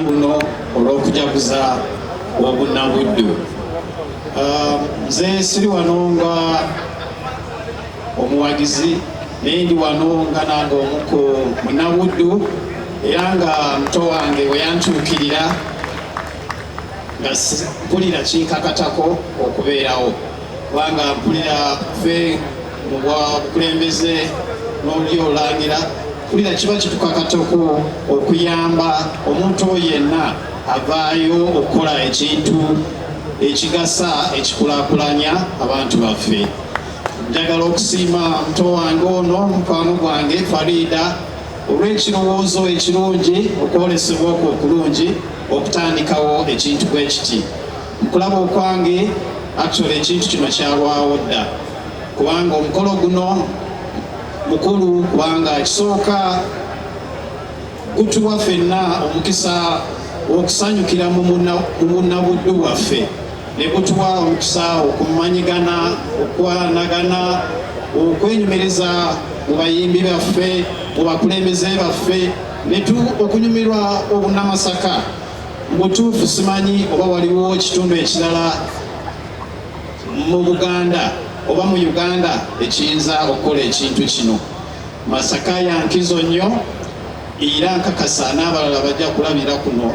luno olw'okujaguza obunnabuddu um, nze siri wano nga omuwagizi naye ndi wano nga nange omu ku munnabuddu era nga muto wange bwe yantuukirira nga mpulira kinkakatako okubeerawo kubanga mpulira fe mu bwa bukulembeze n'oli olangira kulira kiba kitukakatako okuyamba omuntu oyo yenna avaayo okukola ekintu ekigasa ekikulakulanya abantu baffe njagala okusiima muto wange ono mukwano gwange fariida olw'ekirowoozo ekirungi okwolesebwa okwo okulungi okutandikawo ekintu bwe kiti Okulaba okwange actually ekintu kino kyalwawo dda kubanga omukolo guno mukulu kubanga kisooka gutuwa fenna omukisa okusanyukira mu bunnabuddu bwaffe ne gutuwa omukisa okumanyigana okwanagana okwenyumiriza mu bayimbi baffe mu bakulembeze baffe okunyumirwa obunamasaka Mubutuufu simanyi oba waliwo ekitundu ekirala mu Buganda oba mu Uganda ekiyinza okukola ekintu kino. Masaka ya nkizo nnyo era nkakasa n'abalala bajja kulabira kuno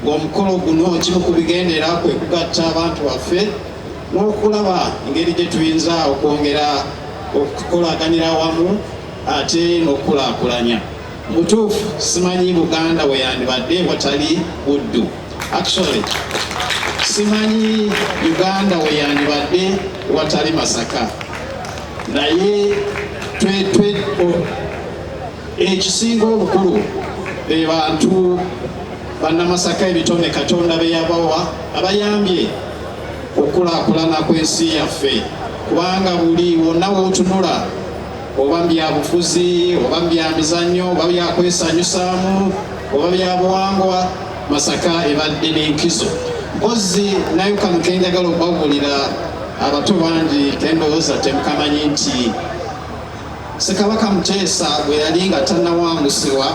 ng'omukolo guno kimu ku bigendera kwe kugatta abantu baffe n'okulaba engeri gye tuyinza okwongera okukolaganira awamu ate n'okukulaakulanya. Mutuufu simanyi Buganda weyandibadde watali Buddu. Actually simanyi Uganda weyandibadde watali Masaka, naye twetwe ekisinga obukulu be bantu bannamasaka ebitone Katonda beyabawa abayambye okukulakulana kw'ensi yaffe kubanga buli wonna wotunula oba mu byabufuzi oba mu byamizannyo oba byakwesanyusaamu oba byabuwangwa masaka ebadde n'enkizo mpozi naye kano kenjagala okubabulira abato bangi kendowooza temukamanyi nti sekabaka muteesa bwe yali nga tannawangusibwa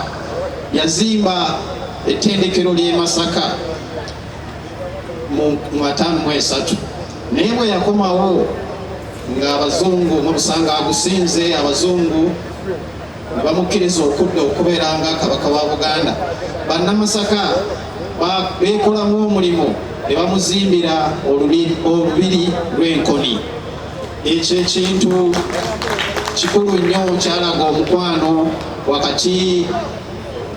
yazimba ettendekero ly'e masaka mu ataano mu esatu naye bwe yakomawo nga abazungu mubusanga agusinze abazungu nebamukkiriza okudda okubeera nga kabaka wa buganda bannamasaka beekolamu omulimu ne bamuzimbira olubiri lw'enkoni ekyo ekintu kikulu nnyo kyalaga omukwano wakati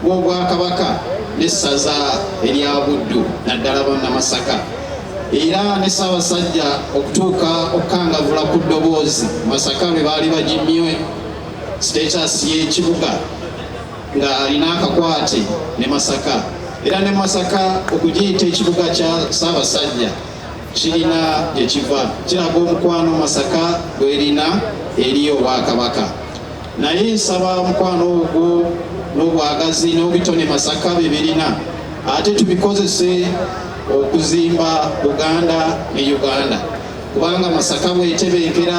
w'obwakabaka n'essaza erya buddu naddala bannamasaka era ne Ssaabasajja okutuuka okukangavula ku ddoboozi Masaka lwe baali bagimye status y'ekibuga nga alina akakwate ne Masaka era ne Masaka okugiyita ekibuga kya Ssaabasajja kirina gye kiva kiraga omukwano Masaka gw'erina eri Obwakabaka. Naye nsaba mukwano ogwo n'obwagazi n'obitone Masaka bye birina ate tubikozese okuzimba Buganda ne Uganda kubanga Masaka bwetebenkera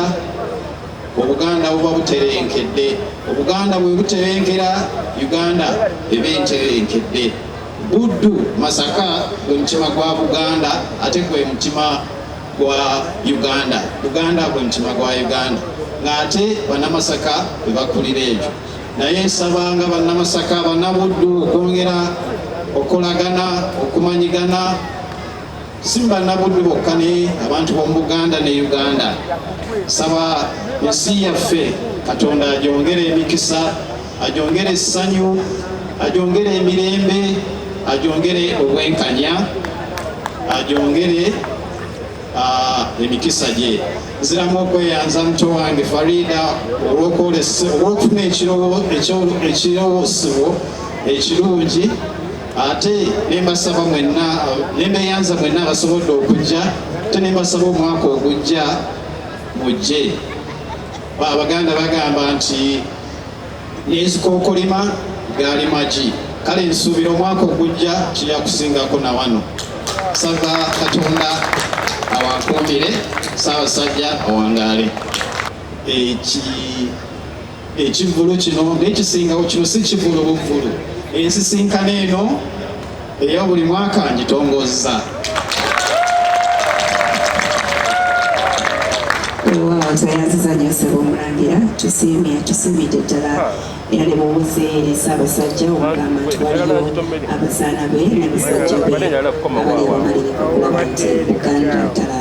obuganda buba buterenkedde obuganda bwe buterenkera uganda eba enterenkedde buddu masaka gwe mutima gwa buganda ate gwe mutima gwa Uganda Buganda gwe mutima gwa Uganda ng'ate bannamasaka bwe bakulira ebyo naye nsabanga bannamasaka bannabuddu okwongera okolagana okumanyigana si bannabuddu bokka ne abantu b'omu Buganda ne Uganda nsaba ensi yaffe Katonda agyongere emikisa ajongere essanyu ajongere emirembe ajongere obwenkanya ajongere ah, emikisa gye nziramu okweyanza muto wange farida olwokufuna ekirowosebwo ekirungi ate nembasaba mwenna nembeyanza mwenna abasobodde okujja ate nembasaba omwaka ogujja mujje Abaganda bagamba nti n'ezikookolima gaali magi kale nsuubira omwaka ogujja kirya kusingako na wano sava katonda awankuumire saabasajja awangaale ekivvulu kino nekisingawo kino si kivvulu buvvulu ensisinkano eno eyo buli mwaka ngitongozza wewaawo tweyanziza nyo sebo omulangira tusiimye tusiimidde ddala era ne mubuze eri ssaabasajja omugamba nti waliwo abazaana be ne basajja be abali wamalirika okulaba nti uganda ddala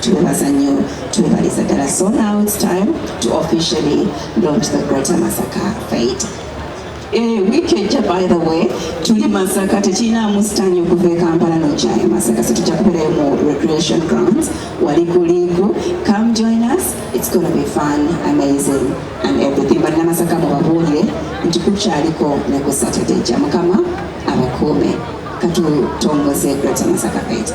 Twebaza nnyo twebaliza ddala so now it's time to officially launch the Greater Masaka Fete. Eh, wiiki ejja by the way tuli masaka tekirinaamu sitaani okuva e kampala nokyayo masaka so tujja kubeerayo mu recreation grounds wali ku liiku come join us it's gonna be fun amazing and everything but namasaka mubabuulire nti kukyaliko ne ku saturday ja mukama abakuume katutongoze greater masaka fete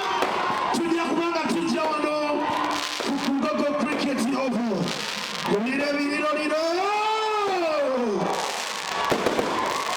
tujja kubanga tujja wano ku Mbogo Cricket Oval kulira ebiriro liro